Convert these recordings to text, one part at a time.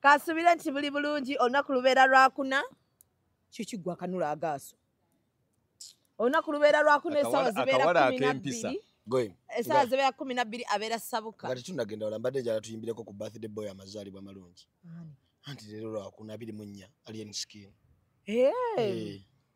kasubire nti buli bulungi olunaku lubeera lwakuna kikigwa kanula agaaso olunaku lubeera lwakuna esawa zibeera kumi nabbiri esawa zibeera kumi nabbiri abeera sabuka nga tetunagenda wala mbadde jala tuyimbireko ku birthday boy amazaalibwa amalungi anti leero lwakuna abiri mu nnya alien skin eh.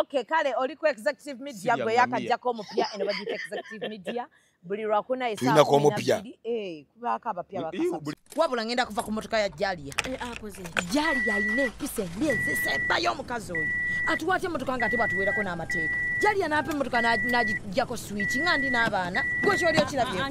Okay, kale oli ku executive media gwe yakajjako omupya eno bagiyita executive media buli lwakuna esaako omupya eh, kubaako abapya bakasatu wabula ngenda kuva ku motoka ya jalia eh, ah, jalia alina empisa embi ezisembayo omukazi oyo atuwaatya emotoka nga ate bwatuweerako n'amateeka jalia n'apa emotoka n'agijjako swiki nga ndi n'abaana gwe kyoli okirabye ah, ah,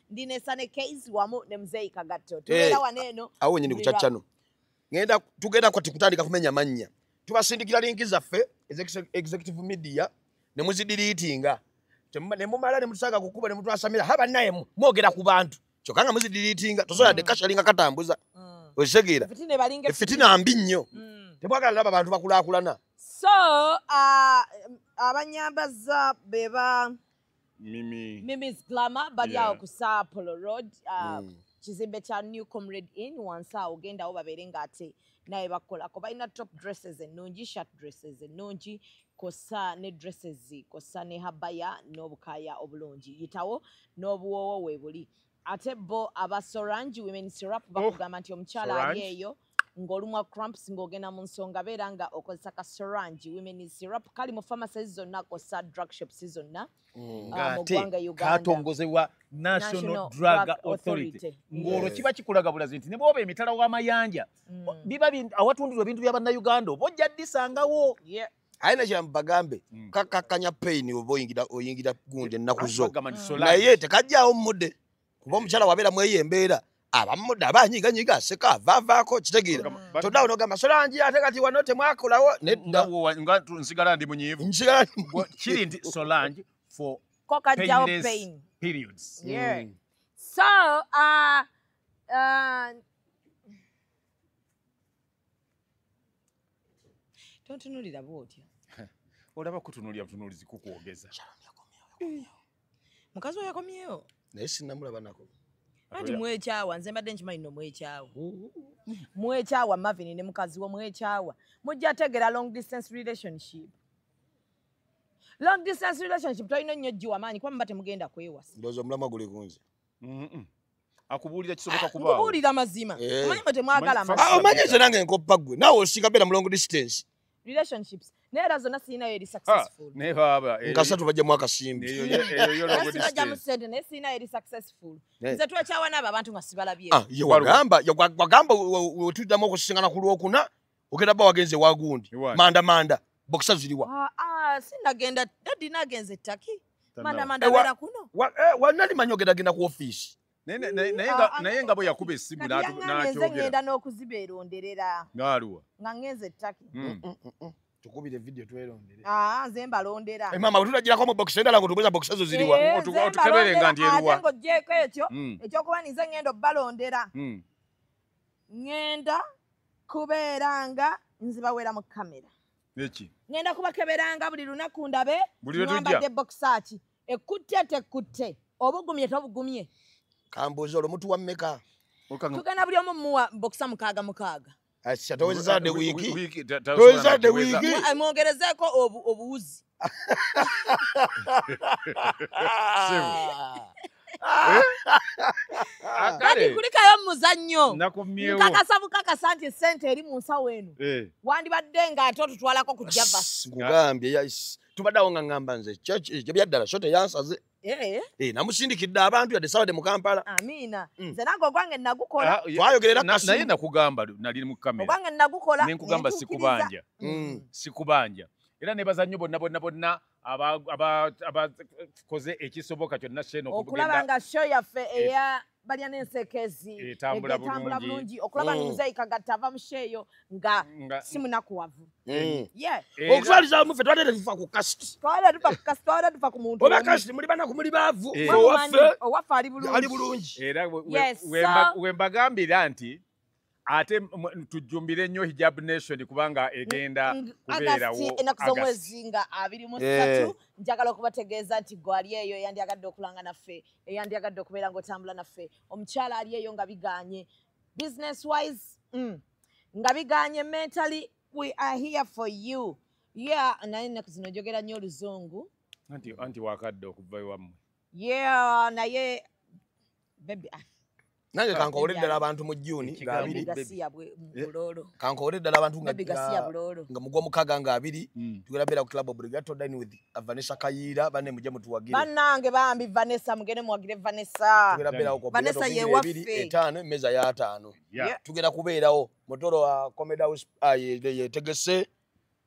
ndi ne sane case wamu ne mzee kagatto eh, tubera hey, waneno awo nyini kuchachano ngenda tugenda kwati kutandika kumenya manya tubasindikira linki zaffe executive media ne muzidilitinga ne mumala ne mutusanga kukuba ne mutwasamira haba naye mwogera ku bantu kyokanga muzidilitinga tosola mm. de kashalinga katambuza mm. oshegera fitina balinga e fitina mbi nnyo mm. tebwagala laba bantu bakulakulana so uh, abanyambaza beba Mimi. Mimi's Glamour bali yeah. awo ku Sapolo Road uh, mm. kizimbe kya New Comrade Inn wansi awo genda awo babeere nga ate naye bakolako balina top dresses ennungi shirt dresses ennungi kosa ne dresses kosa ne habaya n'obukaaya obulungi yitawo n'obuwoowo weebuli ate bo aba sorange women syrup oh, bakugamba nti omukyala ali eyo ng'olumwa cramps ng'ogenda mu nsonga beera nga okozesa ka sorange women syrup kali mu pharmacies zonna kosa drug shops zonna mm. ah, mugwanga ugandatongozebwa national drug authority ng'olwo kiba kikulaga bulazi nti ne bwoba emitala w'amayanja mm. biba awatundirwa ebintu bya bannayuganda oba ojja ddisangawo aye nakyiramu bagambe mm. kakakkanya payini oba oyingira gundi ennaku zo naye tekajjawo mudde kuba omukyala wabeera mweyo embeera abamuda abanyiga nyiga seka vavako kitegira todawo no gamba sola njia ateka ti wanote mwako lawo ne ndawo nga nsigala ndi munyivu nsigala kiri ndi sola nji for koka jaw pain periods yeah mm. so uh uh tontunulira bwotyo olaba kutunulira butunulizi kukwogeza eh. mukazi oyo akomyewo naye sinamulaba nako anti mwekyawa nze mbadde nkimanyi no mwekyawa mwekyawa mavin ne mukazi wo mwekyawa mujja tegera long distance relationship long distance relationship tolina nnyo jjiwa maanyi kuba muba temugenda kwewasa ndoza omulama guli kunze akubuulira kisoboka ah, kubakubuulira mazima eh. omanyi mwe temwagala ah, omanyi ekyo nange nkoppa ggwe naawe osinga beera mulongo distance relationships naye era zonna sirinayo eri ah, successful naye baba nkasatu bajjamu akasimbi bajjamu sente naye sirinayo eri successful nze twekyawa naabo abantu nga sibalabye wagamba wetuddamu okusisinkana ku lwokuna ogenda ba wagenze wagundi manda manda bokisa ziriwa ah, ah, sinagenda dadi nagenze taki manda manda eh, bera kuno eh, wanali manyo ogenda genda ku office naye ah, nga bwe yakuba essimu nakyogenda n'okuzibeeronderera ngaaluwa nga ngenze ettaki hmm. mm, mm, mm, tukubire vidiyo twerondere nze mbalondera eh, mama tutagirako mu bokisi endala ngotubuza bokisi ezo ziriwa eh, otukebere nga ndi eruwa ngo jeko ekyo ekyokuba ninze ngenda obalondera ngenda kubeera nga nzibawera mu kamera eki ŋenda kubakeberanga buli lunaku ndabe mwambadde bokisaaki ekutte tekutte obugumye tobugumye kambuuza olwo mutuwa mmeka tugenda buli omu muwa bokisa mukaaga mukaaga mwongerezeeko obuwuzi kati kulikayo mumuzannyo nkakasa bukakasa nti esente eri mu nsawo eno eh. wandibadde nga ate otutwalako ku javas nkugambye tubadde awo nga ngamba nze ebyaddala sho teyansaze Eh, eh namusindikidde abantu yadde sabade mu Kampala Amina mm. nze nange ogwange nagukola ah, twayogerera na, naye nakugamba nali mu kamera ogwange nagukola ne nkugamba sikubanja mm. mm. sikubanja era ne bazanyo bonna bonna bonna aba aba aba koze ekisoboka kyonna sheno okulaba nga show yaffe eya balya n'ensekezi etambula bulungi okulaba mm. muzeeyi kagatta ava musheeyo nga si munakuwavu mm. okutwaliza wamu fe twabadde tetufa ku kasiti twabadde tufa ku muntu oba kasiti muli banaku muli baavu owaffe ali bulungi era wembagambira nti ate tujjumbire nnyo hijab nation kubanga egenda kubeerawo enaku z'omwezi nga abiri mu ssatu njagala okubategeeza nti gwe ali eyo eyandyagadde okulanga naffe eyandyagadde okubeera ng'otambula naffe omukyala ali eyo nga biganye business wise mm, nga biganye mentally we are here for you ye yeah, naye ennaku zino njogera nnyo oluzungu anti wakadde okuva ewammwe yeah naye baby ah, nange kankowole ddala abantu mu juni nga Ekigambo. abiri baby gasiya bwe- mu Eh. bulolo kankowole ddala abantu nga- baby gasiya nga- bulolo nga mugwa mukaga nga abiri Mm. tugenda beera ku club obligato dine with vanessa kayiira banne mujje mutuwagire banange bambi vanessa mugende muwagire vanessa tugenda beerawo ku Vanessa Obligato ye Obligato ebiri, waffe. etaano emmeeza y'ataano Yeah. Yeah. tugenda kubeerawo motoro wa comedy house ah, ye- ye- yetegese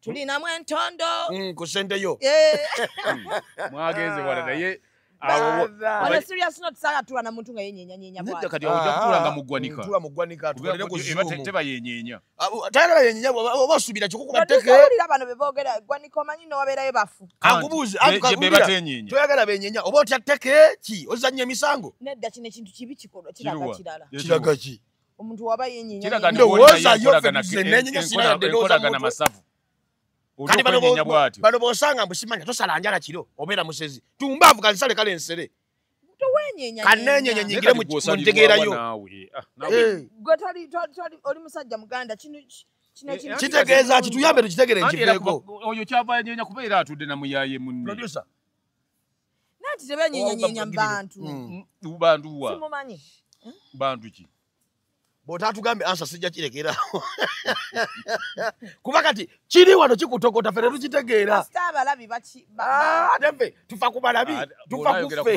tulinamu entondo mm, ku sente yo eh. hmm. mwagenze wala ah. naye obasubira kikukubatekebano bebogera gwanika omanyi nowaberayo bafu akubuuzi toyagala benyenya oba otya teke ki ozanya emisango nedda kino ekintu kibi kikolwa kiraga kirala kiraga ki omuntu waba yenyenyandowoza yofebizenenyenyasinayadenozakolagana masavu bano bosanga mbusimanya tosala njala kiro obeera musezi tumbaavu kansale kale nsere kanenyenye nyingire muntegeerayo oli musajja muganda kino kitegeeza kituyambe tukitegere nkiveeko oyo kyava nyenya kubeera atudde namuyaye munne nanti tebenyenyanyenya mubantu mubantu mm. mm. wa simumanyi bantu ki bwotatugambye ansa sijja kirekera kuba kati kiri wano kikutokota ffe tetukitegeera ah, ate ffe tufa ku balabi ah, tufa kuffe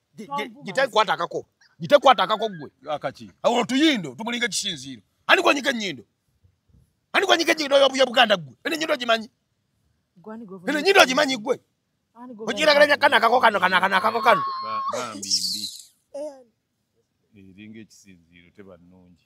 gitekwata akako gitekwata akako gwe akaki awo tuyindo tumulinga kisinziiro ani gwanyika enyindo ani gwanyika enyindo yobuya buganda gwe ene nyindo gimanyi ene nyindo gimanyi gwe okiragalanya kana akako kano kana kana akako kano bambi mbi eringa ekisinziiro tebanungi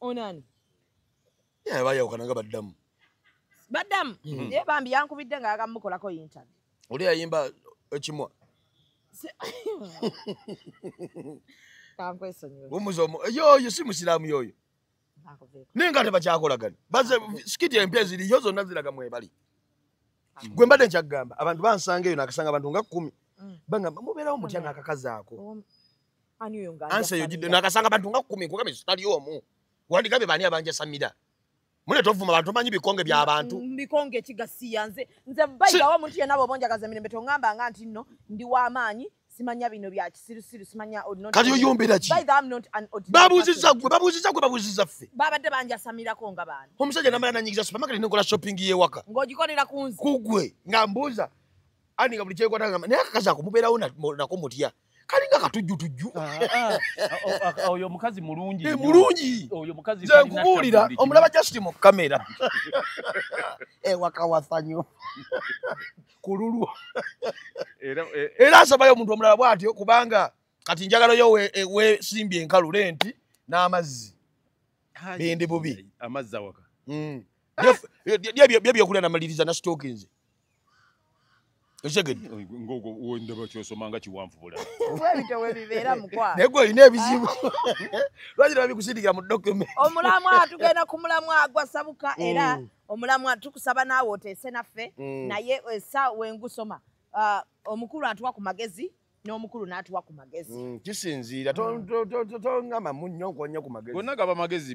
onani yeah, bayawukana nga baddamu baddamu mm. Mm-hmm. ye bambi yankubidde nga agamukolako yintan oli yayimba ekimwa yoyo si musiraamu yoyo naye nga tebakyakolagani baze sikiti empya eziriyo zonna ziraga mwebali gwe mbadde nkyakugamba abantu bansanga eyo nakasanga abantu nga kumi mm. bangamba mubeerawo mutya nakakazaako Ani oyo nga ansa yo jidde nakasanga bantu nga kumi kugambe sitali omu. Wandi gabe bani abanja samida. Mune tovuma bantu manyi bikonge bya abantu. Mm, bikonge kigasi yanze. Nze bayi bawo muntu yena bo bonja kaza mirembe tongamba nga anti no ndi wa manyi simanya bino bya kisiru siru simanya odno. Kali yo yombera ki? Bayi I'm not an odno. Babu ziza gwe babu ziza gwe babu ziza fe. Baba de banja samira ko nga bani. Omusaje namara na nyigiza supermarket ne ngola shopping ye waka. Ngoji ko nira kunzi. Kugwe ngambuza. Ani ngabuli chekwa tanga. Ne akaza kumubera una na kumutiya. kalinga katujjutujju ah, ah, ah, oyo omukazi mulungi eh, mulungi oyo mukazi nze nkubuulira omulaba just mu kamera ewakawasanyo eh, ku lulwo eh, era asabayo omuntu omulala bwatyo kubanga kati njagalayo wesimbye enkalu lenti n'amazzi bende bubi amazzi awaka mm. byebyokulya namaliriza nasitookinze okitegeddenegwe olina ebizibu lwaki babikusindikira mu document omulamwa tugenda ku mulamwa gwasabuka mm. era omulamwa tukusaba naawe oteese naffe mm. naye esa eh, wengusoma ah, omukulu atuwa ku magezi n'omukulu n'atuwa ku magezi mm, kisinziira tongamba munnyo nkonya ku magezi gonna gaba magezi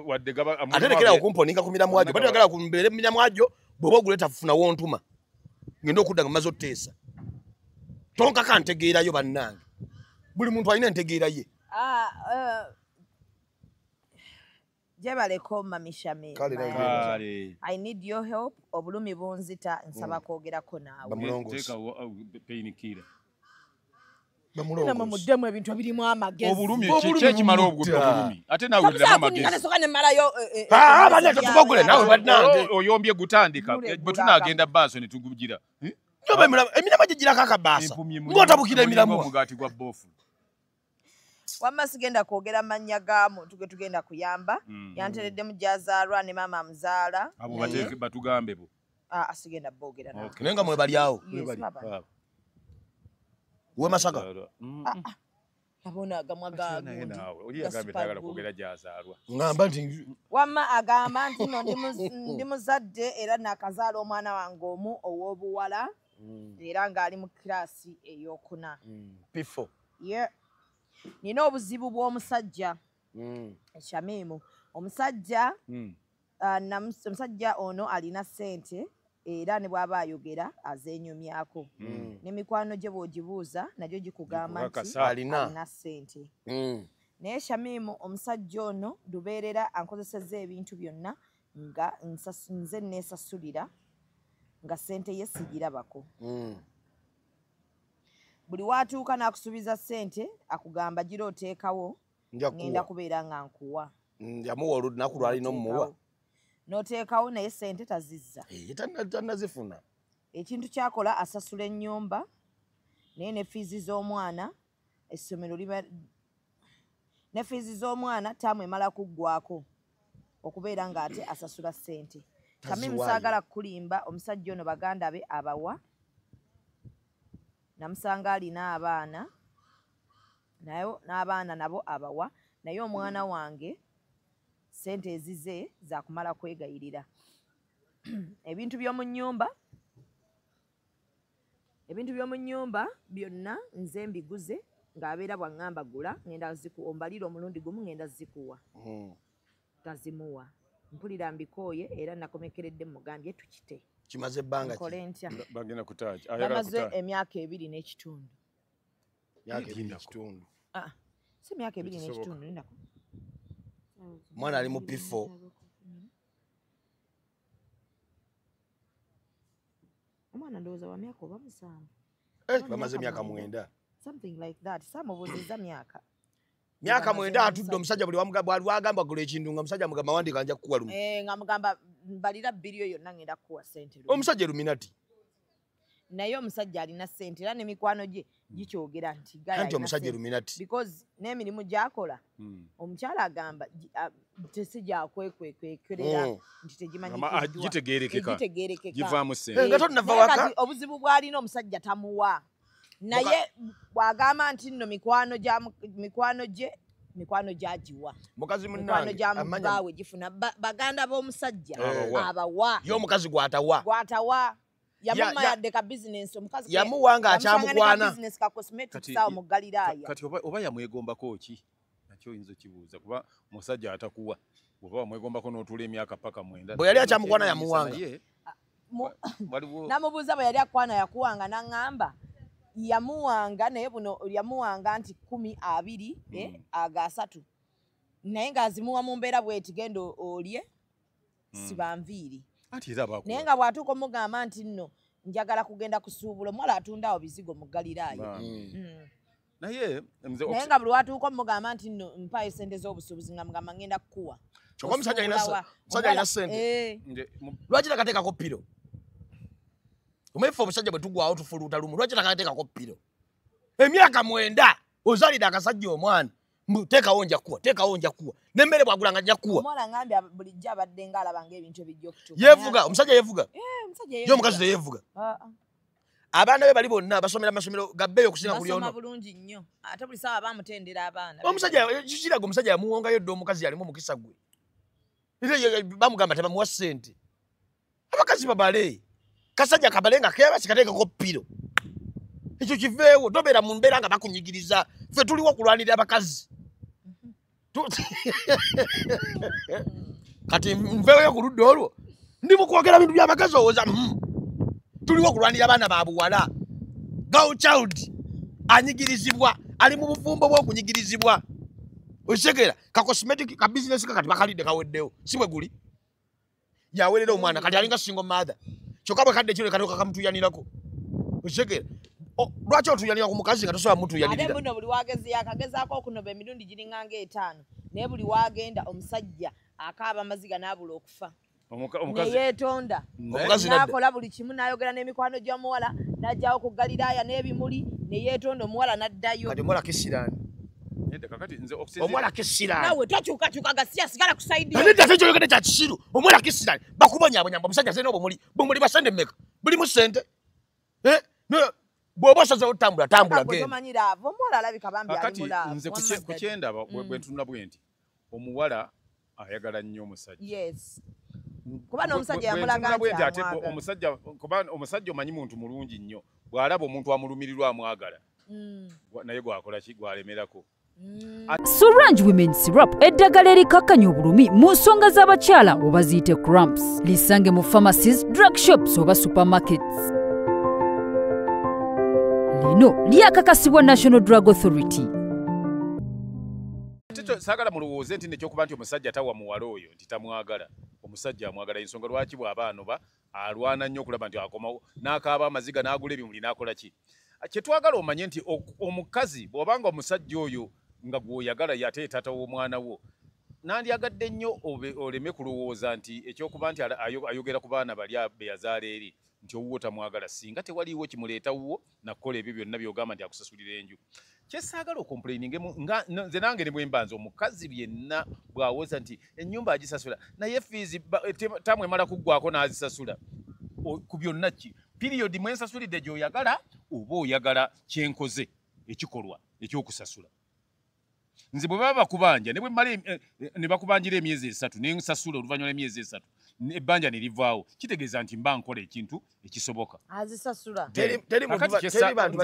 wadde ate lekera okumponinga ku miramwa gyo batagala kumbeere mu miramwa gyo bw'oba oguleeta funa wontuma ngenda okudda nga maze oteesa tonkaka ntegeerayo bannange buli muntu alina entegeera ye ah, eh, jebale ko mami shame kale i need your help obulumi bunzita nsaba mm. kogera ko nawe bamulongosa uh, pain killer mudemu ebintu ebirimu amageziekimalao obulumi ate naweamagezitubagulenawebanange eh, eh, eh, ah, oh, oyombye gutandika bwe tunagenda baaso ne tugugira emirama gyegirakakabasa ngotabukira emiramu wamma sigenda kwogera mannya ga muntu ge tugenda kuyamba mm. yantereddemu gyazaalwa ne maama amuzaala abo bateeke batugambe bo ah, ah, sigenda boogera naye nga mwebali awo wemasaga mm. ah, abona agamwa gagamba nti wamma agamba nti no ndi muzadde era nakazaala omwana wange omu ow'obuwala mm. era ng'ali mu kiraasi eyokuna pifo yeah. nina obuzibu bw'omusajja mm. shamimu omusajja mm. uh, omusajja ono alina sente era ne bwaba ayogera azenyumyako mm. ne mikwano gye bwogibuuza nagyo gikugamba nti alina sente mm. naye shamimu omusajja ono lubeerera ankozeseza ebintu byonna nga nze nesasulira nga sente ye sigirabako mm. buli watuuka nakusubiza sente akugamba gira oteekawo ngenda kubeera nga nkuwa njamuwa olunaku lwalina omuwa noteekawo naye sente tazizza eh, tanazifuna ekintu kyakola asasula enyumba naye ne fiizi z'omwana essomero liba ne fiizi z'omwana taamu emala kuggwako okubeera nga ate asasula sente kami musagala kukulimba omusajja ono baganda be abawa namusanga alina abaana naye n'abaana nabo abawa naye omwana wange sente ezize zakumala kwegayirira ebintu by'omu nyumba ebintu by'omu nnyumba byonna nze mbiguze ng'abeera bw'aŋŋamba gula ŋenda ziku ombalira omulundi gumu ŋenda zikuwa hmm. tazimuwa mpulira mbikooye era nakomekeredde mugambye tukite kimaze ebbanga kole ntya bagenda kutaaki bamaze emyaka ebiri n'ekitundu myaka ebiri n'ekitundu ah, si myaka ebiri n'ekitundu nako omwana ali mu pifo omwana ndowooza wa myaka oba musanvu eh, bamaze myaka mwenda something like that samubuziza myaka myaka mwenda atudde omusajja buli wagamba gula ekintu nga musajja mugamba wandika nja kukuwa lumu eh, nga mugamba mbalira bbiri oyo nangenda kukuwa sente omusajja eluminati naye omusajja alina sente era nemikwano gye gikyogera nti anti omusajja illuminati because n'emirimu gyakola hmm. omukyala agamba tesi gyakwekwekwekwerera hmm. nti tegimanyigitegeerekekagivaamu sente nga tonnava waka obuzibu bw'alina omusajja tamuwa naye bw'agamba nti nno mikwano gya mikwano gye mikwano gyagiwa mukazi munange gifuna baganda b'omusajja abawa ye omukazi gwatawa gwatawa yamuma yadde ka bizinensi omukazi yamuwa nga akyamukwana bizinensi ka cosmetics awo mu galiraaya kati oba, oba yamwegombako ki nakyo oyinza okibuuza kuba musajja atakuwa oba wamwegombako n'otuula emyaka paka mwenda bwe yali akyamukwana yamuwanga namubuuza bwe yali akwana yakuwanga naŋŋamba yamuwanga naye buno yamuwanga nti kumi abiri eh, hmm. aga asatu naye ng'azimuwa mu mbeera bweti genda olye hmm. sibanviiri naye nga bwatuuka omugamba nti nno njagala kugenda kusuubula omuwala atundawo bizigo mu galiraayo hmm. hmm. naye naye nga buli watuuka omugamba nti nno mpaayo sente z'obusuubuzi nga mugamba ngenda kukuwa kyoka omusajja alina sente eh. lwaki takateekako piro omefe obusajja bwe tugwawo tufuluuta lumu lwaki takateekako piro emyaka mwenda ozalira akasajja omwana mbu teekawo nja kuwa teekawo nja kuwa nemmere bwagula nga nja kuwa omwana ngambye bulijjo abadde nga alaba nga ebintu ebijja okutuka yeevuga omusajja yeevuga eh, ye omukazi teyeevuga ah, ah. abaana be bali bonna basomera masomero gabbeeyo okusinga buli ono bulungi nnyo ate buli saawa bamutendera abaana omusajja kiraga omusajja yamuwongayo dda omukazi yalimu omukisa gwe bamugamba tebamuwa sente abakazi babale kasajja kabale nga kebasikatekako piro ekyo kiveewo tobeera mu mbeera nga bakunyigiriza fe tuliwo okulwanirira abakazi kati nveeyo ku ludda olwo ndi mukwogera bintu byabakazi owoza hmm. tuliwo okulwanira abaana ba buwala girl child anyigirizibwa ali mu bufumbo bwokunyigirizibwa okitegera ka cosmetic ka business kakati bakalidde kaweddewo si bwe guli yawerera omwana kati alinga single mother kyokka bwe kadde kino katoka kamutuyanirako okitegera lwaki otuyanira ku mukazi nga tosobola mutuyanirira buno buli wagezi yakagezaako okunoba emirundi giringanga etaano naye buli wagenda omusajja akaaba amaziga n'abula okufa neyetonda nakola buli kimu nayogera nemikwano gyomuwala najawo ku galilaya nebimuli neyetonda omuwala naddayo omuwala kisiranawe tokyukakyuka gasiya sigala kusaidinedda tekyoyogede kya kisiru omuwala kisirani bakubonyabonyamba omusajja sena obumuli bumuli basente meka bulimu sente eh? bwoba osaze otambula tambula gendaomanyira avo omuwala alabika bambi alimula kati nze kukyendaba bwentunula bwendi omuwala ayagala nnyo omusajja yes kuba n'omusajja yamulaga nti ate omusajja kuba omusajja omanyi muntu mulungi nnyo bw'alaba omuntu amulumirirwa amwagala mm. naye gwakola ki gwalemerako Suranj Women Syrup eddagala erikakkanya obulumi mu nsonga z'abakyala oba ziyite cramps lisange mu pharmacies drug shops oba supermarkets lino lyakakasibwa national drug authority ate saagala mulowooze nti nekyokuba nti omusajja tawa muwala oyo nti tamwagala omusajja amwagala ensonga lwaki bwaba anoba alwana nnyo okulaba nti akomawo n'akaaba amaziga n'agula ebimuli n'akola ki kyetwagala omanye nti omukazi bw'obanga omusajja oyo nga gw'oyagala yate taata w'omwana wo nandyagadde nnyo oleme kulowooza nti ekyokuba nti ayogera ku baana bali be yazaala eri nti owuwo tamwagala singa tewaliiwo kimuleeta wuwo nakukola ebyo byonna byogamba nti akusasulira enju kyesaagala okomplaininge nze nange ne bwembanza omukazi byenna bwawoza nti enyumba agisasula naye fiizi tamu emala kuggwako n'azisasula ku byonna ki piriyodi mwensasulidde gyoyagala oba oyagala kyenkoze ekikolwa ekyokusasula nze bwe baba bakubanja eh, ne bakubanjira emyezi esatu ne nsasula oluvannyuma lw'emyezi esatu ebbanja ne livaawo kitegeeza nti mba nkola ekintu ekisoboka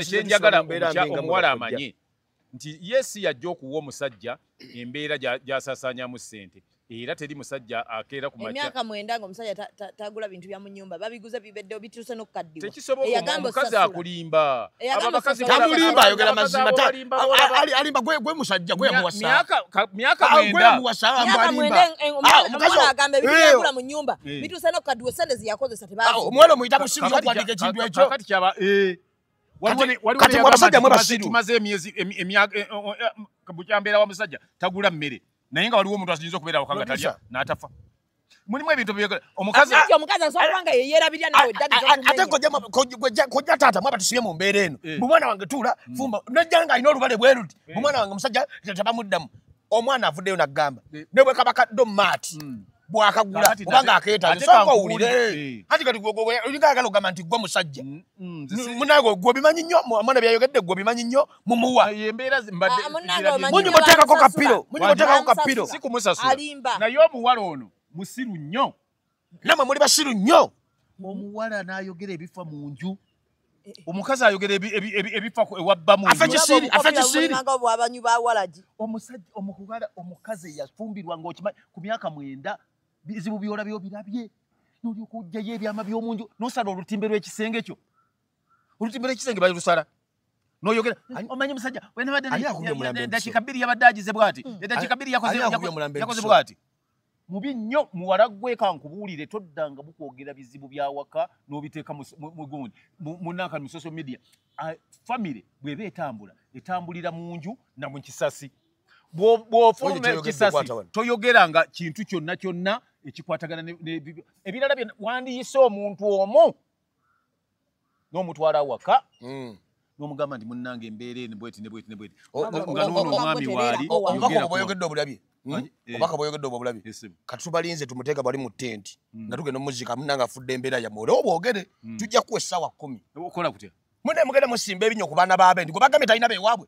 kyenjagala omuwala amanye nti ye si yajja okuwa omusajja embeera gy'asaasaanyamu ssente era teri musajja akeera ku emyaka mwenda nga omusajja tagula bintu bya mu nyumba babiguze bibedde obituuse n'okukaddiwa tekisobokaomukazi akulimba tamulimba ayogera mazima alimba gwe musajja gwe yamuwasaomukaziagamba ebintu byagula mu nyumba bituuse n'okukaddiwa sente ziyakozesa tebaomuwala omuyita musiru yokuwandika ekintu ekyo kati mwe abasajja mwe basiru tumaze emyezi emyaka bukya mbeera wa musajja tagula mmere naye nga waliwo omuntu asinza okubeera awaka nga talya n'atafa mulimu ebintu omukazi asanga yeyerabirya nawe ate kojja taata mwaba tusibye mu mbeera eno eh. mumwana wange tuula mm. fumba najja nga alina olubale bweruti eh. mumwana wange musajja tabamuddamu omwana avuddeyo nagamba eh. ne bwe kaba kaddo maati mm. bwakagula obanga akeetaaga owulire anti kati olinga ayagala ogamba nti gwe musajja mm, munange gwe obimanyi nnyo omwana byayogedde gwe obimanyi nnyo mumuwa ah, embeera zimbaddemunyumuteekako ah, kapiro munyumuteekako kapiro si kumusasula naye omuwala ono musiru nnyo namwe muli basiru nnyo omuwala n'ayogera ebifa mu nju eh, eh. omukazi ayogera ebifa ewabba muomusajjaomuwala omukazi eyafumbirwa ngaokima ku myaka mwenda bizibu byolabyo birabye nolyoka ojjayo ebyama by'omunju nosala olutimbe lw'ekisenge kyo olutimbira ekisenge balusala noyogera mm, omanyi musajja wenabaddedakiika bbiri yabadde agize bwati mm. edakiika bbiri yakoze bwati mubi nnyo muwala gweka nkubuulire toddanga bukwogera bizibu byawaka n'obiteeka mugundi munanka mu social media famiry bweba etambula etambulira mu nju na mu kisasi bwofuluma ekisasi toyogeranga kintu kyonna kyonna ekikwatagana ebirala byona wandiyise omuntu omu nomutwala awaka hmm. nomugamba nti munange embeera eno bweti ne bweti ne bweti nga nono omwami waali oyogeddebwayogedde obulabi hmm? eh. obaka bweyogedde obwa bulabi kati tubalinze tumuteeka bali mu tenti hmm. nga tugenda omuzika munange afudde embeera yamwe oleo bwogere tujja kuwa essaawa kumi okola kutya mune mugenda musimba ebinyo ku baana baabe nti gwe bagambye talina bewaabwe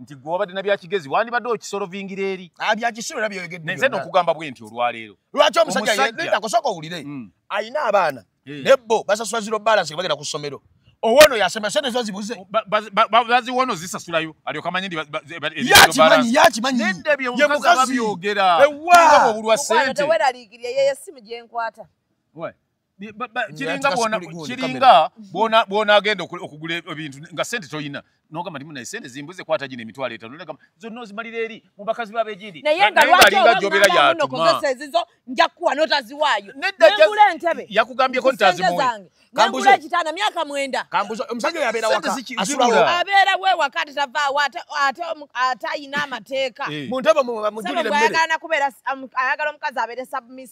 nti gwe wabadde na byakigezi wandibadde okisolovingira eri ah, byakisolo era byoyogedde nze nokugamba bwe nti olwaleero lwaki omusajjaosoka owulire hmm. alina abaana eh. nebbo basasula ziro balance bagenda ku ssomero owono yasema sente zo zibuze baziwono zisasulayo alyoka manyi yakimanyi yakimanyi yemukazi ewa obulwa sente kiringa bwona kiringa bwona bwona agenda okugula ebintu nga sente toyina noga malimu na sente zimbuze kwata jine mitwale etano nega zonno zimalire eri mu bakazi babe jindi naye nga lwaki nga jobera ya tuma kozesa ezizo nja kuwa nota ziwayo nengule ntebe yakugambye ko ntazi mu kambuje kitana miaka mwenda kambuje omusajja yabera waka asura abera we wakati tava wata ate ata ina mateka eh. mu ntebe mu mujulire mbere sana kubera ayagala omukazi abere submiss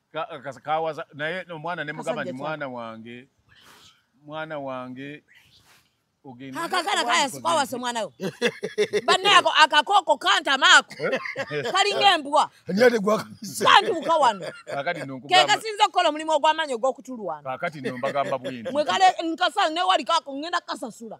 Ka- ka- kawaza naye omwana ne mugamba nti Kasajja mwana wange mwana wange ogende akakana kaya sikwawasa omwana we banne ako akakooko kantama ako kalinga embwa ani ategwakanisa kantuuka wano kakati no nkugamba kekasinza okukola omulimu ogw'amaanyi ogw'okutulwana kakati no mbagamba bwenti mwe kale nkasa newali kako ngenda kasasula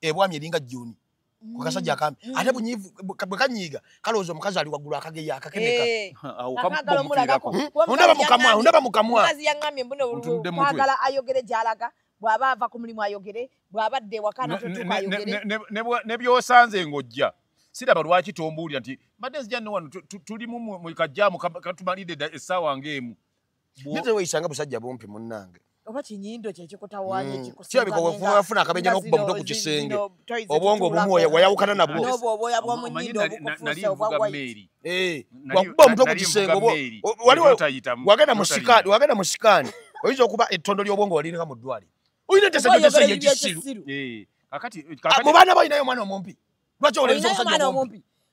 ebwami eringa juni kukasajja mm. akambi mm. ate bunyivu bwe kanyiiga kalowooza omukazi ali waggulu akageya akakeneka eh. hmm? ondaba mukamwa ondaba mukamwazi yaŋambye mbunekwagala ayogere gyalaga bw'aba ava ku mulimu ayogere bw'aba dde ewakana totuka ayogere ne byosanze ng'ojja siraba lwaki tombuulira nti mbadde nzija ne wano tulimu mu kajjaamu katumalidde essaawa ng'emu Nze weyisanga busajja bumpi munnange. Oba kinyindo kye kikutawaanya mm. ekikusinga. Kya biko wefuba wafuna akabenja n'okuba muto ku kisenge. Obwongo obumu wayawukana nabwo. N'obwo obwoya bwa mu nyindo obukufuuse obwa waiti. Eh, wakuba omuto ku kisenge obwo. Waliwo wagenda mu sikaani, wagenda mu sikaani. Oyinza okuba ettondo ly'obwongo waliringa mu ddwali. Oyina tesa gyo tesa yekisiru. Eh, kakati kakati. Mubana bayina yo mwana omumpi. Lwacho oleza omusajja omumpi.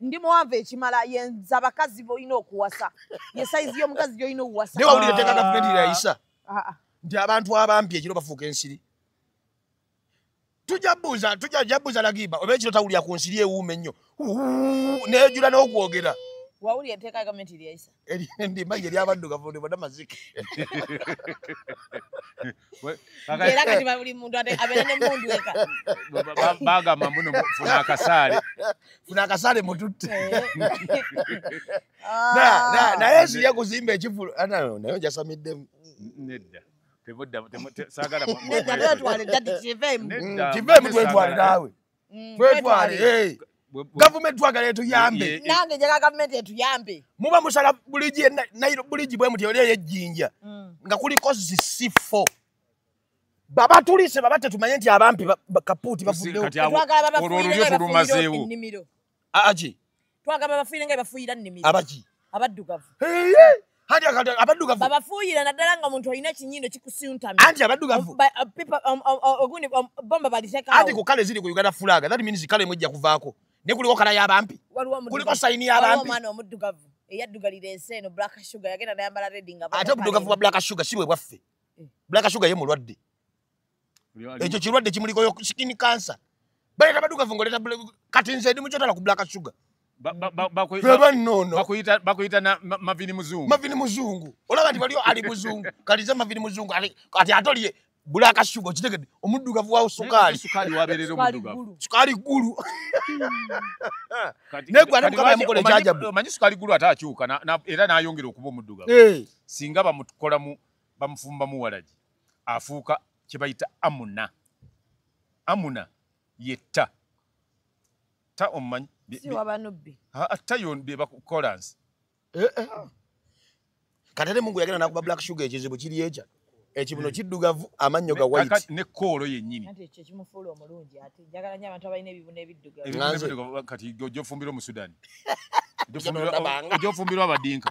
ndi muwanvu ekimala yenza abakazi bolina okuwasa ye saizi yomukazi gyolina okuwasa naye wawulira teka gavumenti lyayisa ah, ah, ah. nti abantu abampi ekiro bafuuka ensiri tujabuuza tujabuuza lagiba oba ekiro tawulira ku nsiri ewuuma ennyo neyojula n'okwogera wawulira enteeka gavumenti lyayisa endima ye lyabaddugavu ndi bona mazike era kati buli muntu abeera ne mundu eka bagamba mbuno funa akasaale funa akasaale mututte ah. naye sija kuzimba ekivulu ah, naye ojasamidde nedda tebudda sagala nedda twetwale dadi kivemu kivemu twetwale naawe Mm, twetwale eh. gavumenti twagala etuyambe nange njaga gavumenti etuyambe muba musala buligi nairo buligi bwe muti oli eyejjinja mm. nga kuliko zisifo baba tulise baba tetumanye nti abampi kapuuti bafudewo aji twagamba bafuire nga bafuira nimi abaji abaddugavu hadi akati abaddugavu babafuira naddala nga omuntu olina ekinyindo kikusiuntami anti abaddugavu ogundi bomba baliteka anti ku kale ziri ku uganda fulaga that means kale mwejja kuvaako ne kuliko kala y'abampi kuliko sayini y'abampi omwana omuddugavu eyaddugalira ensi eno black sugar yagenda nayambala redi nga ate obuddugavu bwa black sugar si bwe bwaffe eh. black sugar ye mulwadde ekyo kirwadde kimulikoyo skin cancer baleta badugavu ngaoleta kati nze ndi mukyotala ku black sugar bakuyita mavini muzungu mavini muzungu olaba nti waliyo ali muzungu kalize mavini muzungu kati atolye bulaka shuga okitegedde omuddugavu wawo sukaali sukaali ggulu naye gwe ate mukama yamukola ekyajabu omanyi sukaali ggulu ate akyuka era n'ayongera okuba omuddugavu eh. singa bamukolamu bamufumbamu walagi afuuka kye bayita amuna amuna yetta ta omumanyi atta yon bebakolansi eh, eh. katere mungu yagenda nakuba black sugar ekizibu kiri ekya ekibuno hmm. kiddugavu amannyo ga white ne koolo yennyini kati ojofumbira omusudani ojofumbirwa abadinka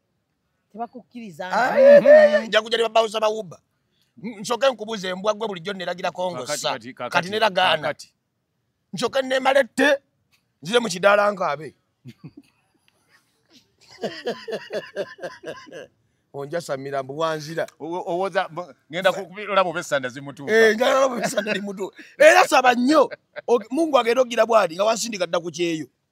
tebakukkiriza Ah, eh, eh, nja kuja ne babawuza bawuba N- nsooke nkubuza embwa gwe bulijjo neragira kongosa kati nera gaana kakati. nsooke nemalette nzire mu kidaala nkaabe onjasamira mbu wanzira Owo- owoza mbu- ngenda kulaba oba esanda zimutuuka Eh, njagala olaba ebisanda limutu era saba nnyo Og- mungu agenda okugira bwati nga wansindika dda ku kyeyo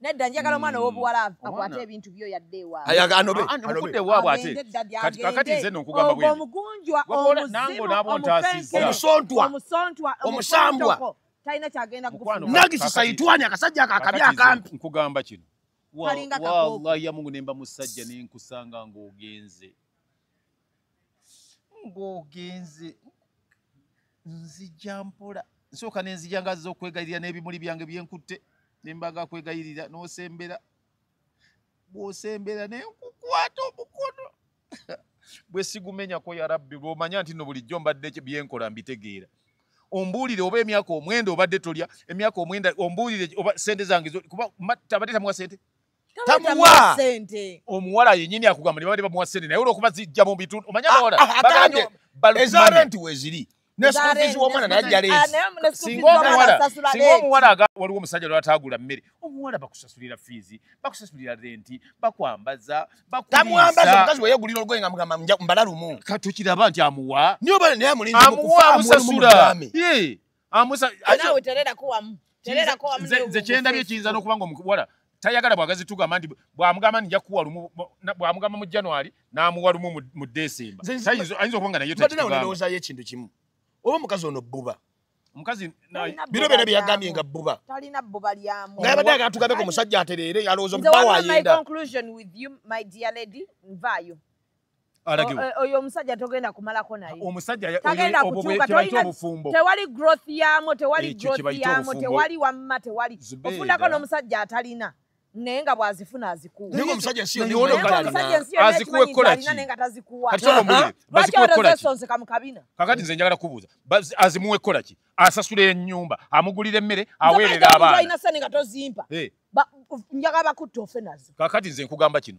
nedda njagala omwana hmm. owobuwala akwate ebintu byo yadde ewaabweanobeakati nze nokugamba bwe omugunjwa omuzimuomusontwa omusambwa talina kyagenda kunagisisayitwani akasajja akakabi akampi nkugamba kino wallahi yamungu nemba musajja nenkusanga ngaogenze ng'ogenze nzija mpola nsooka ne nzija nga zza okwegayirira n'ebimuli byange bye nkutte ne mbaga kwegayirira n'osembera bw'osembera ne nkukwata omukono bwe sigumenyako ya rabbi lw'omanya nti no bulijjo mbadde bye nkola mbitegeera ombuulire oba emyaka omwenda obadde tolya emyaka omwenda ombuulire oba sente zange kuba tabadde tamuwa sente tamuwa sente omuwala yenyini akugamba nibabade bamuwa sente naye olwokuba zijja mu bitundu omanya ah, abawala ah, bagambye eza renti weziri nesukufizi womwana naye ajja lensinga ah, omuwala waliwo omusajja lwatagula mmere omuwala bakusasulira fiizi bakusasulira renti bakwambaza bakuambaza omukazi weyegulira olugoye nga mugamba mbala lumu katukiraba nti amuwa naye amulinzi mukufa amusasula amusa naawe tererako wamu tererako wamu nze kyendabye ekiyinza n'okuba nga omuwala tayagala bwagazi tugamba nti bwamugamba nija kuwa lumu bwamugamba mu january n'amuwa lumu mu desemba ayinza okuba nga naye tekiubaoza yo ekintu kimu oba omukazi ono bbuba omukazi bino byona byeyagambye nga bbuba talina bbuba lyamu nga yabadde aga tugambe ku musajja atereere yalowooza omubawa ayenda alagiwa eh, oyo omusajja togenda kumalako naye omusajja tagenda kutuuka tolina obufumbo tewali growth yamo tewali growth yamo tewali wamma tewali ofundako n'omusajja atalina naye nga bwazifuna azikuwekolakizonzeka mukabina kakati nze njagala kubuuza azimuwe kolaki asasula enyumba amugulira emmere aweerera abaana sente nga tozimpa eh. njagala bakutta ofe nazo kakati nze nkugamba kino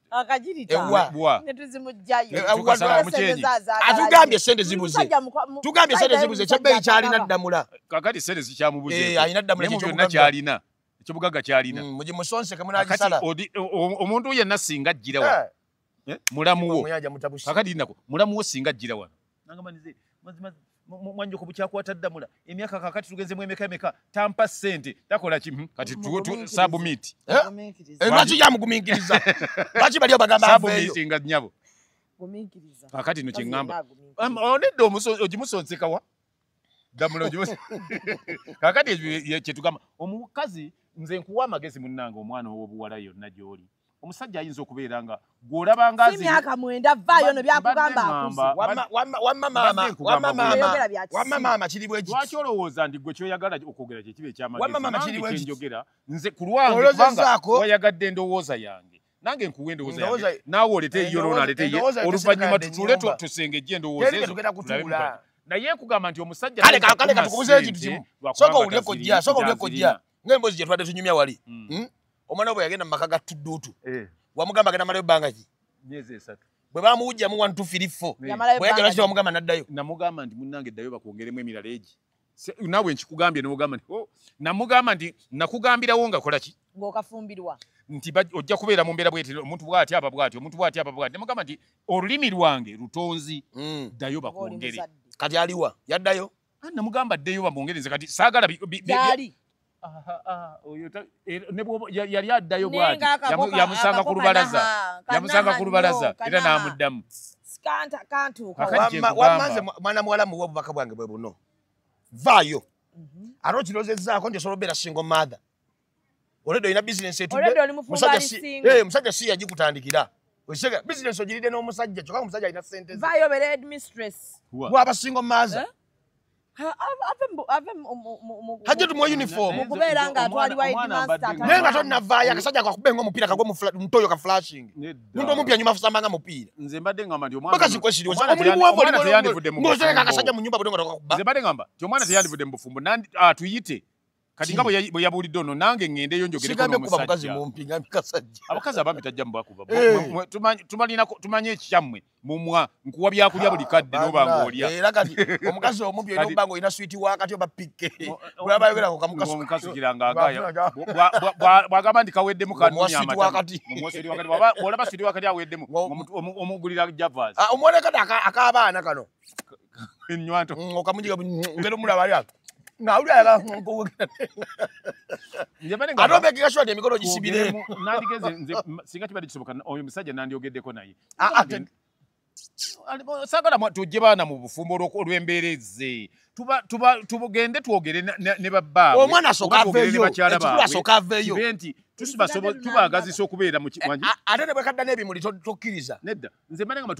atugambye sente zibuzetugambye sente zibuze kyebbeyi kyalina ddamula kakati sente zikyamubuzaalina eh, ddamulakyona kyalina ekyobugaga kyalina mm, mugimusonseke munagisala omuntu yenna singa ajjira wano eh? eh? mulamuwo kakati nako mulamuwo singa ajjira wano nangamba nize mazima mwanjo ku bukyakwata ddamula emyaka kakati tugenzemu emeka emeka tampa sente takola kimu hmm, kati tuwo tu sabu miti eh? eh, lwaki yamugumingiriza lwaki bali obagamba sabu miti nga nyabo kakati no kingamba onedde ogimusonsekawa kakati kyetugamba omukazi nze nkuwa amagezi munnange omwana owobuwala yonna gyoli omusajja ayinza okubeera nga gwolaba ngaimyaka mwenda vaayo no byakugamba akuziwamamaama kiri bwekilwaki olowooza nti gwe kyoyagala okwogera kyekiba ekyamaenjogera nze kulwange wayagadde endowooza yange nange nkuwa endowooza yange naawe olete eyiyo lona alete ye oluvannyuma tutule tusengejje endowooza ezo naye nkugamba nti omusajja kale kale katukubuze ekintu kimu soka ulye kojja soka ulye kojja nge mbozi je twade tunyumya wali hmm. Hmm? omwana obo yagenda maka ga tudutu eh. wamugamba agenda malayo banga ki miezi esatu bwe bamuwujja mu 1 2 3 4 yamalayo banga ki wamugamba naddayo namugamba nti munange dayo bakwongeremu emirala eji nawe nkikugambye nogamba nti oh, namugamba nti nakugambirawo nga kolaki ngaokafumbirwa nti ojja kubeera mu mbeera bweti omuntu bwati aba bwati omuntu bwati aba bwati nemugamba nti olulimi lwange lutonzi hmm. ddayo bakwongere kati aliwa yaddayo ah, namugamba ddeyo bamwongere nze kati saagala yali addayo bwati yamusanga ku lubalaza yamusanga ku lubalaza era n'amuddamu wamaze mwana muwala muwa obubaka bwange bwe buno vaayo mhm. ate okirozezaako nti osobola obeera single mother olede olina bisinesi etumusajja si yagikutandikira osega bisinesi ogiride n'omusajja kyokka omusajja alina sente wabasingo maaza eh? hajja tumuwa uniform okubeera nga atwalibwa naye nga tonavaayo akasajja kakube nga omupiira kagwe mutoyo ka flashing muntu omupya nyuma fusamba nga mupiira bakazikwesiriozomwana teyandivudde mu bufumbo atuyite ah, kati nga bwe yabuulidde ono nange ŋŋendeyo njogereabakazi abambi tajja mubakuba eh. tumanyi ekikyammwe mumwa nkuwa byakulya buli kadde noba ngaolya era kati omukazi omu byona oba nga olina switi wakati oba pikke bwagamba nti kaweddemu kanolaba switi wakati aweddemu omugulira javas ah, omwonekati ak'abaana kano enywato mm, okamujiga mm, ngero mulaba ya ngawuli ala nkuwugera ate obeekeka shwati emikono gisibire nandigeze nze singa kibadde kisoboka oyo musajja nandyogeddeko naye ah, ah, sagala tujje baana mu bufumbo olw'embeera ezze tugende twogere ne babbaabwe omwana asooka aveeyo ekikulu asooka aveeyo nti tubagazisa okubeera mu ate ne bwekadda n'ebimuli tokkiriza nedda nze mbale ngamba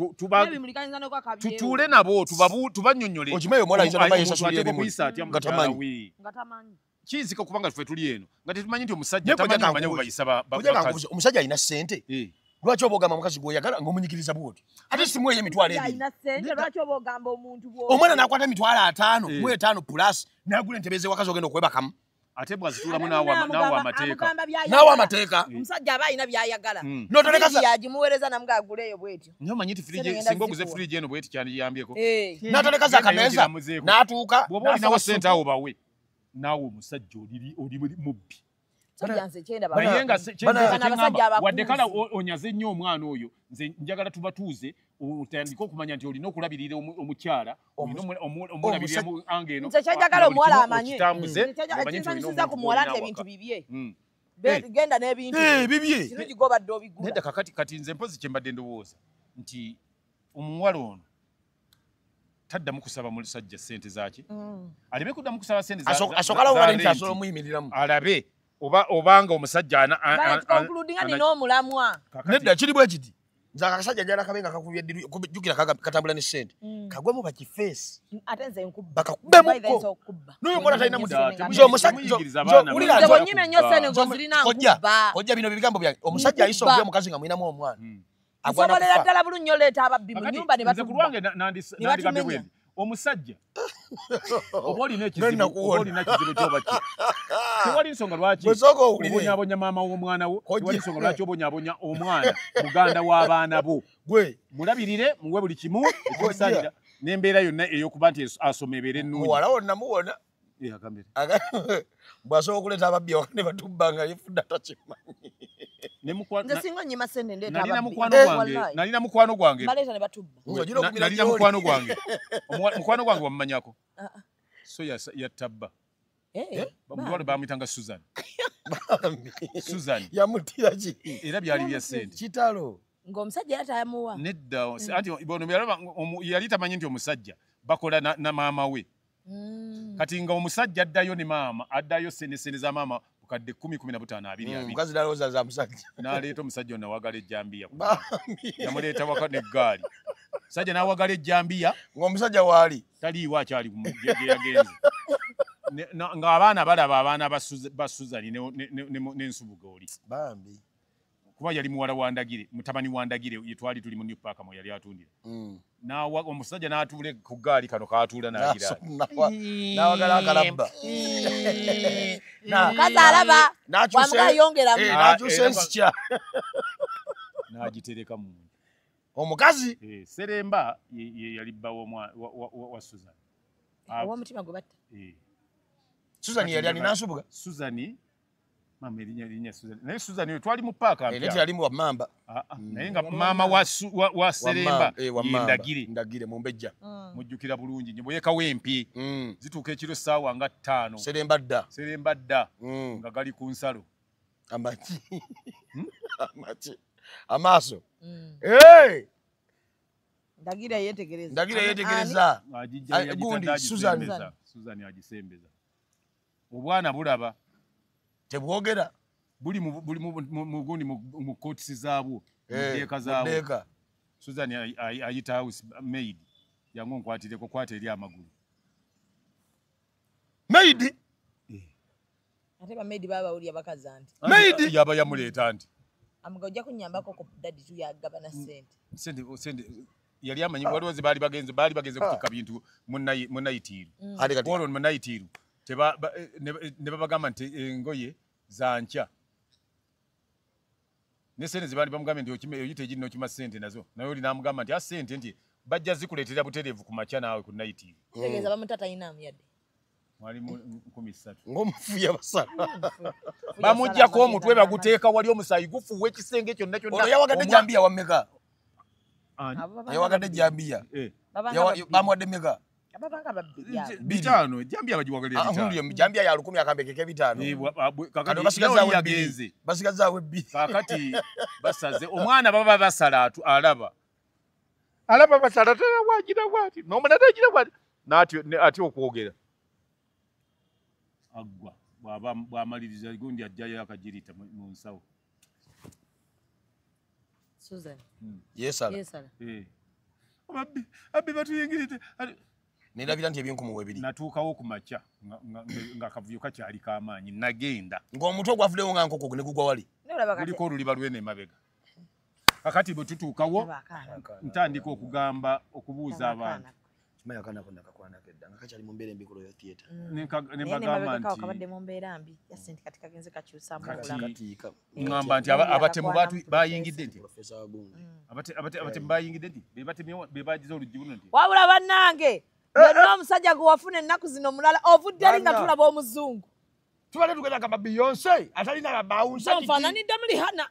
tutuule nabo tubanyonyole okimayo omwana ayitana maye sasuli ebimu ngatamanyi kiyinzika okuba nga tufe tuli eno nga tetumanyi nti omusajja tamanyi amanya bwebayisa bakazi omusajja alina sente eh. lwaki oba ogamba mukazi gwoyagala ngaomunyikiriza bwoti ate simueyo emitwalo ebiomwana nakwata emitwalo ataano eh. mu etaano plus nagula entebezewakazi ogenda okwebakamu ate bwazituulamu naawa amateeka naawa amateeka eh. omusajja aba alina byayagala hmm. notoleagimuweereza namuga aguleeyo bwetyo nyo manyi ti singa oguze firiji eno bweti kyandiyambyeko eh. natoleka zakameeza natuuka bwoba olinawo sente awo bawe naawe omusajja oli mubbi wadde kala onyaze nnyo omwana oyo nze njagala tubatuuze otandike okumanya nti olina okulabirira omukyala nze kyenjagala omuwala amanye ekinsanyusiza ku muwala nti ebintu bibye hmm. eh. genda n'ebintubibyeobadde eh, obigula kakati kati nze mpozi kyembadde ndowooza nti omuwala ono taddamu kusaba mulusajja sente zaki mm. aleme kuddamu kusaba sente alabe obanga omusajja nedda kiri bwekiti nze akasajja njala kabe nga kakubye ddiru jjukira katambula ne ssente mm. kagwemu bakifeesi mm, bakakubemuko n'oyo mwana talina muwuliraojja bino bigambo byange omusajja ayisa okuba omukazi nga mulinamu omwana mm. nsobolera ddala bulunyo leeta ababbi mu nyumba ne batukulwange nandigambye bwendi omusajja oba olina ekizibuolina kizibu kyoba ki tewali nsonga lwaki obonyabonya maama w'omwana wo tewali nsonga lwaki obonyabonya omwana muganda w'abaana bo mulabirire muwe buli kimu ekimusalira n'embeera yonna ey'okuba nti asoma ebeera ennungi bwasobola okuleeta ababbi awaka ne batubba nga yefudde atakimanyisinanyina mukwano gwangenalina mukwano gwange mukwano gwange wamumanyako ah, ah. so yattabba eh, eh, bamutwalo bamuyitanga susan susan yamutira ki era byali bya sente kitalo ng'omusajja era tamuwa nedda mm. anti bono yalaba yali tamanyi nti omusajja bakola na, na maama we mm. kati nga omusajja addayo ne maama addayo senesene za maama bukadde kumi kumi na butaano abiri mm, abirikazi nalowooza za musajja naleeta omusajja ono nawagala ejjambiya yamuleeta waka neggaali musajja nawagala ejjambiya ngaomusajja waali taliiwo akyali gyeyagenze ng'abaana balaba abaana ba suzani n'ensubuga oli bambi kuba yali muwala wa Ndagire, mutabani wa Ndagire ye twali tuli mu New Park mwe yali atundira. Mm. Na wa omusajja n'atuula ku gaali kano k'atuula n'agira. N'awagala akalabba. Omukazi alaba wamuga ayongeramu. Eh, n'akyusa eh, ensikya. N'agitereka mu omukazi. Eh, Seremba ye yali bba wa Susan. Owomutima gwe batta. Susan yali alina nsubuga. Susan Mama erinya erinya Susan. Naye Susan yo twali mu park ampya. Eleti yali mu mamba. Ah, ah. Mm. Naye nga mama wa su, wa, wa Seremba eh, yindagire. Ndagire mu mbejja. Mm. Mujjukira bulungi nyo boyeka wempi. Mm. Zituka ekiro sawa nga 5. Seremba dda. Seremba dda. Mm. Nga gali ku nsalo. Amachi. Hmm? Amachi. Amaso. Mm. Hey! Ndagira yetegereza. Ndagira yetegereza. Gundi Susan. Susan ajisembeza. obwana bulaba tebwogera buli mugundi mu kotisi zaabwo mudeeka eh, zaabwo susan ayita house maid yangu nkwatireko kwata eri amagulu maid eh. ate bamaidi babawulira bakaza nti maidi eh, yaba yamuleeta nti amuga ojja kunyambako ku dadi tuyagabana sente sente sente yali amanyi waliwo ze baali bagenze baali bagenze kutikka bintu mu nayitiiru olwo mu nayitiiru ne babagamba nti engoye zankya ne sente ze baali bamugambye nti oyita egirina okima sente nazo naye oli namugamba nti a sente nti bajja zikuleetera butereevu ku makya naawe ku nayitiiru ng'omufu yabasala bamugyako omutwe baguteeka wali omusaayi gufuuwa ekisenge kyonna kyonna yawagadde jambiya wameka yawagadde jambiya eh. bamuwadde meka bitano jambia bajiwagalira ah, bitano huyo jambia ya lukumi akambe keke bitano eh, ah, kakati basigaza we bili basigaza we bili kakati basaze omwana baba basala atu alaba alaba basalatala wagira bwati nomulala agira bwati nati ati okwogera aggwa bwaba bwamaliriza gundi ajjayo akagirita mu nsawo susan hmm. yesala yesala eh abbi abbi batuyingirite nelabira nti ebinkumuwa ebiri natuukawo ku makya nga kavuyo kakyali kamaanyi nagenda ng'omutwe ogwavudewo nga nkoko negugwa wali oliko oluliba lwene emabega kakati bwe tutuukawo ntandika okugamba okubuuza abantu kimanyi akaana konna kakwanako edda nga kakyali mu mbeera embi ku royal theatre mm. nembagamba nti kabadde mu mbeera mbi yasi nti kati kagenze kakyusamu obulamu ngamba nti abatemu bayingidde nti mm. abatemu bayingidde nti be bagize oluggi buno nti wabula bannange eh, eh. yonna omusajja gwe wafuna ennaku zino omulala ovudde eri nga tulaba omuzungu tubadde tugenda gamba beyonce atalina bawunsa nfananidde muli hana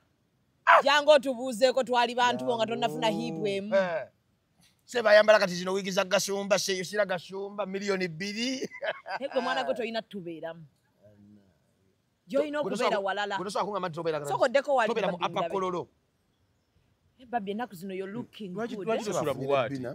jangu otubuuzeeko twali bantu bo nga tonnafuna hiipu emu eh. se bayambala kati zino wiigi za gasumba sira gasumba miliyoni bbiri egwe mwana gwe tolina tubeeramu gyolina okubeera walalasokoddeko waliapakololo eh, babi enaku zino yo looking good eh?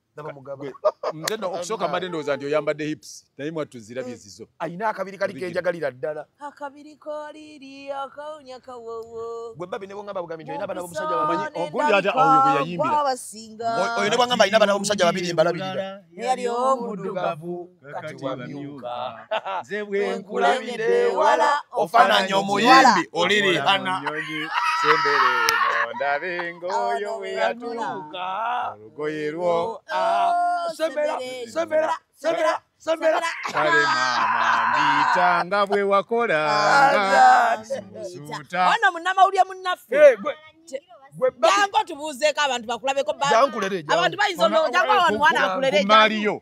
nze no okusooka mbadde ndowooza nti oyambadde hips naye mwattu zirabye mm. zizo alina akabiri kali kenjagalira ddala akabiri koliri akawunya kawowo gwe babi ne bwongamba bugambi nti olina abana bomusajja bamanyi ogundi ati oyo gwe yayimbira oyo ne bwongamba alina abana bomusajja babiri embalabirira yali omudugavu kati wamyuka nze bwenkulabidde ewala ofananya omuyimbi oli rihana sembere eno ndabe ngoyo weyatuuka olugoye lwo sembera sembera sembera sembera kale mama mbita nga bwe wakola suuta ono munamawulire munnaffe jangu tubuuzeeko abantu bakulabeko abantu bayinza onojangu awantu wana akulere jangu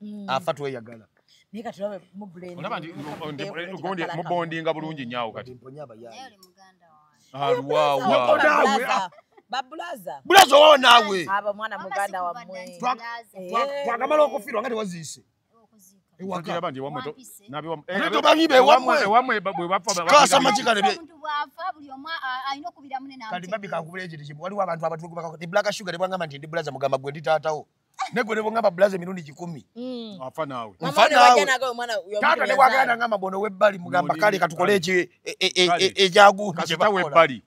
mm. afa tweyagala mubondinga bulungi nyawo kati babulaza bulaza owawo naawe abo mwana muganda wamwe twakamala eh. okufirwa nga tewaziise waliwo abantu abatblack sugar nebwangamba nti ndi bulaza mugamba gwe ndi taatawo negwe nebongamba bulaza emirundi kikumi mm. afa nawe taata newagala nangamba bona webbali mugamba kale katukole eki ejaguwebbali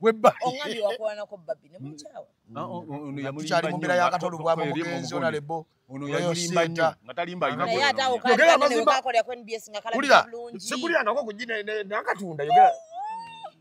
tukyali mumbeera yakatolo bwaba mugenzi onalebo oyosintaogeramazima kulira sikulirangako kujinakatunda yogera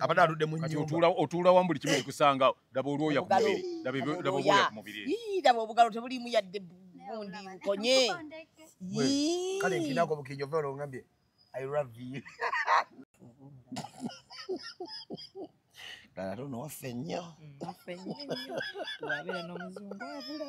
abadde aludde mu nyumba otuula wamu buli kimu kikusanga daba olwoya ku mubiri daba obwoya ku mubiri daba obugalo tebuliimu yadde bundi nkonye kale nkinako bukinyo ova olongambye i love you dala tono waffe nnyo mm, waffe nnyo wabeera n'omuzungu abula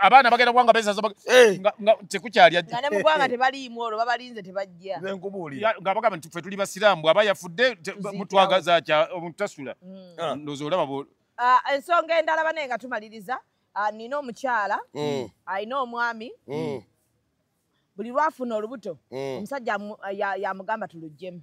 abaana bagenda kubanga bezaza eh. nga tekukyali ajja nga ne mugwanga tebaliimu olwo babalinze tebajja nze nkubuulira nga bagamba nti ffe tuli basiraamu bw'aba yafudde mutwagaza kya omuntu tasula hmm. ah. ndowooza olaba bo ah, ensonga endala banaye nga tumaliriza ah, nina omukyala hmm. alina omwami hmm. buli lwafuna olubuto omusajja yamugamba tulujjemu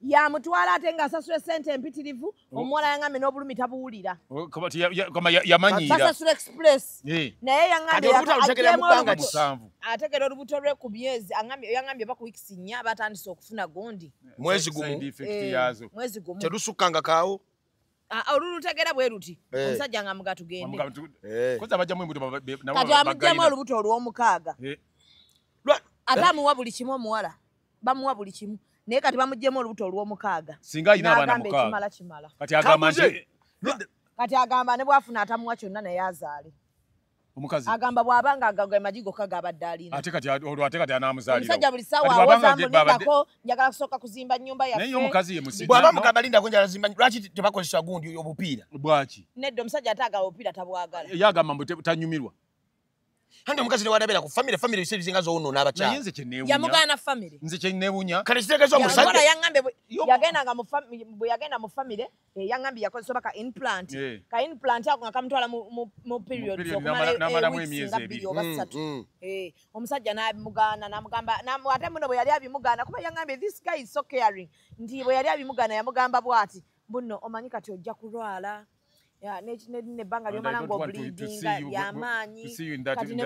yamutwala ate nga asasula esente empitirivu oh. omuwala yaŋambe n'obulumi tabuwulira oh, basasula express eh. naye yaŋambeategera olubuto lwe ku myezi yaŋambye oba ku wikisi nnya batandise okufuna gundi mwezi gumumwezi eh, gumu terusukkanga kaawo ah, ah, olulutegera bwe luti eh. omusajja nga muga tugendekati amuggyemu olubuto olw'omukaaga ate amuwa buli kimu omuwala bamuwa buli kimu naye kati bamugyemu olubuto olwomukaaga singa alina abaana mukaaga kimala kati agamba nti kati agamba ne bwafuna atamuwa kyonna naye azaale omukazi agamba bwaba nga agaga amagi gokka gabadde alina ate kati olwo ate kati anaamuzaaliraomusajja buli sawa awozambulindako njagala kusooka kuzimba nyumba yafenaye omukazi ye musizi bwaba mugamba lindako njagala zimba lwaki tebakozesa gundi obupiira bwaki nedda omusajja ate agaba obupiira tabwagala ye agamba mbu tanyumirwa Hande omukazi ne wadabera ku family family bise bizinga zo uno naba cha. Yenze chenewunya. Ya mugana family. Nze chenewunya. Kale kiteka zo musajja. Yagora yangambe yagenda nga mu family bu yagenda mu family eh, yangambi yakoze soba ka implant. Yeah. Ka implant yako akamtwala mu mu, mu period so kumale na mara mwe miezi ebiri. Mm, mm. Eh omusajja na mugana na mugamba na ate muno bwe yali abimugana kuba yangambe this guy is so caring. Ndi bwe yali abimugana yamugamba bwati. Bunno omanyi kati ojja kulwala. nebbanga lyomala nga obulidinga lyamaanyi kati ne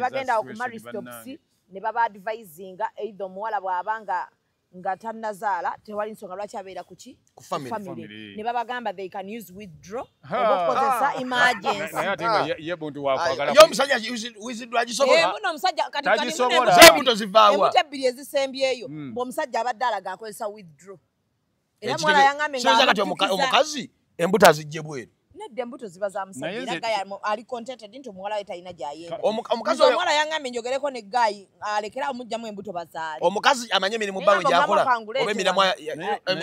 bagenda okumaristopsi ne baba advisinga eithe omuwala bw'aba nga nga tannazaala tewali nsonga lwaki abeera kuki ne babagamba they can use withdraw obakozesa emergencyyomusajjaebuto zivaawaebuto ebbiri ezisembyeyo hmm. ng'omusajja abadde alaga akozesa withdraw soza kati omukazi embuto azijje bweru nedda embuto ziba za musajjaali contented nti omuwala we talina gyayendaomukaziomwala yangambye njogereko ne gaayi alekere amugjamu embuto bazaale omukazi amanye emirimu bawe gyakola oba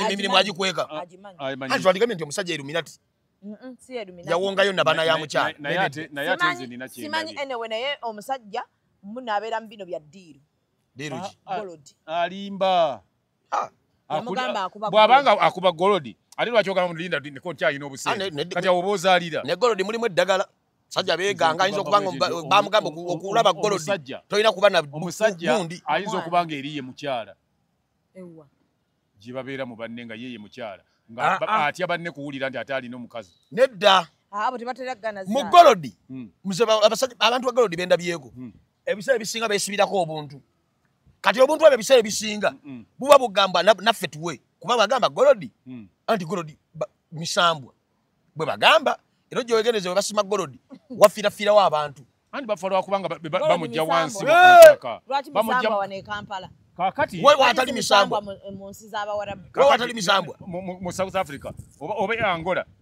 emirimu agikweka twandikambye nti omusajja eruminati yawongayo nabana ya mukyalasimanyi enewe naye omusajja munabeera mu bino bya diiru diiru ki alimba bwabanga akuba golodi ate lwaki ogamba mulinda niko nkyalina obusente kati awo oba ozaalira ne golodi mulimu eddagala sajja beganga ayinza okuba nga bamugamba okulaba golodi tolina kuba na omusajja ayinza okuba nga eriye mukyala gye babeera mu banne nga yeye mukyala nga ah, ah. atya banne kuwulira nti ate alina omukazi nedda ah, mu golodi hmm. abantu ba golodi bendabyeko hmm. ebiseera ebisinga besibirako obuntu kati obuntu ebyo ebiseera ebisinga buba bugamba naffe tuwe kuba bagamba golodi mm. anti golodi misambwa bwe bagamba era ojowegeneze bwe basima golodi wafirafirawo abantu anti bafa lwakubanga bamujja wansi kakati wewe watali misambwa mu south africa oba e angola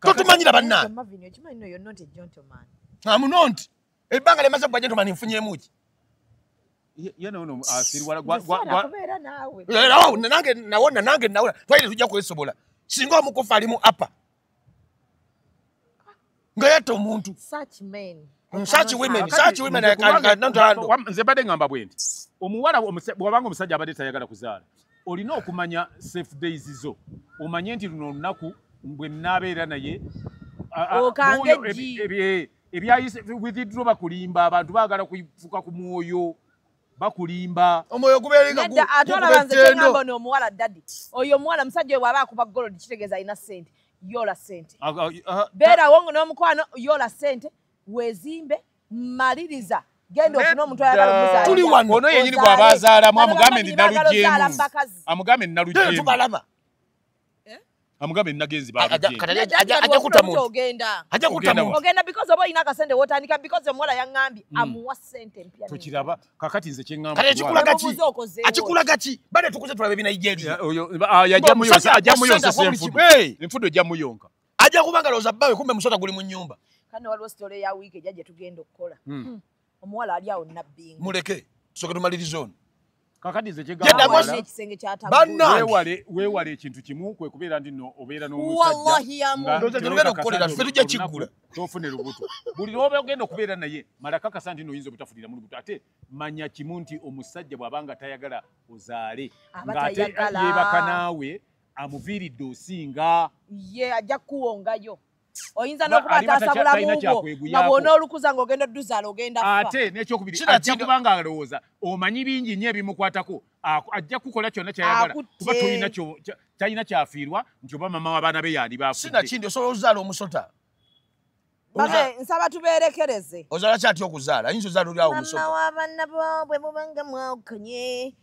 totumanyira bannaamunonti ebbanga lyemaze kuba gentomani nfunyemuki nange nawona nange nawona twaire tujja kwesobola singa omukufa alimu apa nga yatta omuntu nze mbadde ngamba bwe nti omuwala bwabanga omusajja abadde tayagala kuzaala olina okumanya safe days zo omanye nti luno olunaku bwe naabeera naye ebyayise withidro bakulimba abantu baagala kufuka ku mwoyo bakulimba omwoyo gubeerenga gu- Nedda, ate gukuba olaba nze ettendo. kyengamba ono omuwala dadi oyo omuwala musajja oyo bwaba akuba golodi kitegeeza alina sente yola sente Ah, ah, ah, beerawo nga n'omukwano yola sente weezimbe maliriza genda ofune omuntu ayagala omuzaalira. Tuli wano. ono yenyini Ozaale. bwaba azaalamu Bano amugambe babiri ndi bagala ozaala mu nalujemu bakazi. amugambe ndi Tena nalujemu tubalaba Eh? amugambe nagenzi baajja kutamuntu ogenda ajja kutamuntu ogenda because oba olina akasente wotandika because omuwala yaŋŋambye mm. amuwa sente empya tukiraba kakati nze kyeŋŋamba kale kikula gaki akikula gaki bade tukuze tulaba ebina nigeria oyo ah, yajja muyonsa ajja muyonsa senfudu enfudu ejja muyonka ajja kubanga loza bawe kumbe musota guli mu nyumba kano waliwo story ya week ejja gye tugenda okukola hmm. Hmm. omuwala ali awo nabbinga muleke tusoke tumalirize ono wewale ekintu kimu kwekubeera ndi no obeera nomusajjaokukoleraetujja kiggula tofune lubuto buli lwoba ogenda okubeera naye malakakasa nti noyinza obutafunira mu lubuto ate manya kimu nti omusajja bwaba nga tayagala ozaale ngaate yebaka naawe amuviiridde osinga ye ajja kukuwongayo oyinza n'okuba ataasa bulamu bwo nga bwona olukuza ng'ogenda odduzaala ogenda fa ate n'ekyokubiri ajja kuba nga alowooza omanyi bingi nnyo ebimukwatako ajja kukola kyonna kyayagala kuba tolina kyalina kyafiirwa nti oba mama w'abaana be yaali baafudde osobola okuzaala omusota Babe, nsaba tubeerekereze. Ozala kyati okuzaala, yinza ozaala oli awo musoko. Mama wa banna bo bwe mubanga mwawukanye,